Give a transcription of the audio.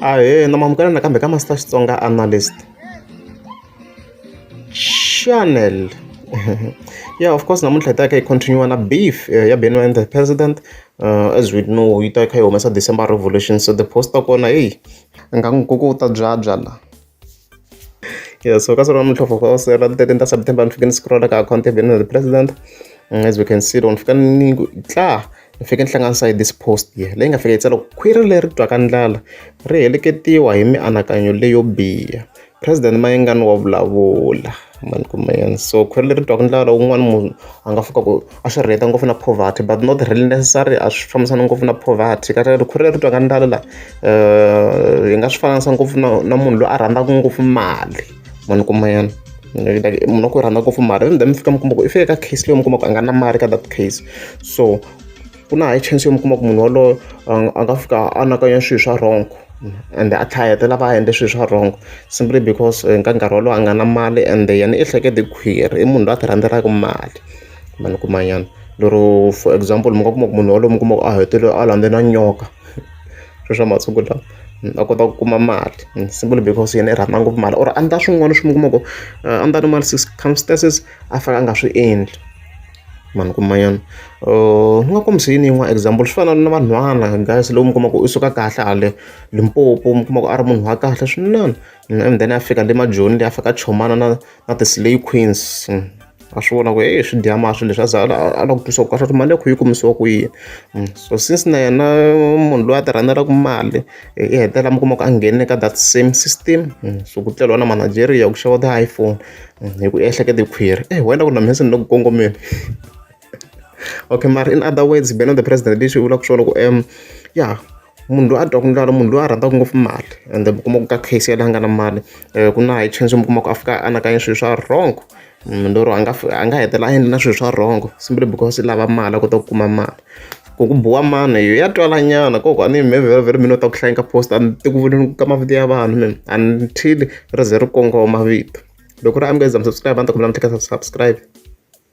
ahee na mamukela nakambe ka master xitsonga analyst channel yeah of course namuntlha hi ta ka hi continue na beef eh, ya benwa and the president uh, as we know yi ta kha yi humesa december revolution so the post ta kona heyi nga n'wi kuku u ta byabya la Yes, so ka swona muntlho for us ra the 13th September ni fike ni scroll ka account ya Benin the president mm, as we can see loko ni fika ni tla ni fike ni hlanganisa hi this post ye leyi nga fika yi tsala khwiri leri twaka ndlala ri heleketiwa hi mianakanyo leyo biha president mayengani wa vulavula mani ku mayani so khwiri leri twaka ndlala wun'wana munhu a nga fika ku a swi relate ngopfu na poverty but not really necessary a swi fambisana ngopfu na poverty ka ri khwiri leri twaka ndlala la um hi nga swi fananisa ngopfu na na munhu loyi a rhandzaka ngopfu mali mani kuma yena munhu wa ku rhandza ngopfu mali and then mi fika mi kuma ku i fike ka case leyi mi kuma ku a nga na mali ka that case so ku na high chance yo mi kuma ku munhu waloyo a nga fika a anakanya swilo swa wrong and a tlhayete lava a endle swilo swa wrong simply because eh, ka nkarhi wolowo a nga na mali and yena i hlekete khwiri i munhu loyi a ti rhandzelaku mali mali kuma nyana lero for example mi nga kuma ku munhu yaloye mi kuma ku a hetelele a landze na nyoka sweswiya swa masiku lawa a kota ku kuma mali simply because yena i rhandza ngopfu mali or a endla swin'wana swi mi kuma ku a ni ta ni mali circumstances a fanele a nga swi endli mani kuma nyana ni nga kombisa yini yin'wana example swi fana na vanhwana guys loko mi kuma ku u suka kahle hale Limpopo mi kuma ku a ri munhu wa kahle swinene and then a fika le majoni le a fika a chomana na. na ti-slay queens a swi vona ku heyi swi dya masi leswi a za a lava ku twisa ku kahle mali ya kho yi kumisiwa ku yini mm, so since na yena munhu loyi a ti rhandzelaku mali i e, hetelela mi kuma ku a nghene ka that same system mm, so ku tleliwa na manageria ku xava ti-iphone mm, hi ku ehleketa khwiri e wena ku na mhesi ni le ku kongomeni okay mara in other words beno the president lexi vulaka swona ku um ya munhu loyi a dyaku ndlala munhu loyi a rhandzaka ngopfu mali ende mi kuma ku ka case yaleyo a nga na mali um ku na high chance mi kuma ku a fika a anakanya swilo swa wrong munhu lero a nga a nga hetelela a endla na swilo swa wrong simply because i lava mali a kota ku kuma mali ku ku biwa mani yo ya twalanyana ko ku a ni yimi vhela vhela mi ni u ta ku hlaya ka post a ni ti ku voneni ka mavito ya vanhu mina until ri ze ri kongoma vito loko ri amukela za mi subscribe a ni ta kombela mi tleketla subscribe.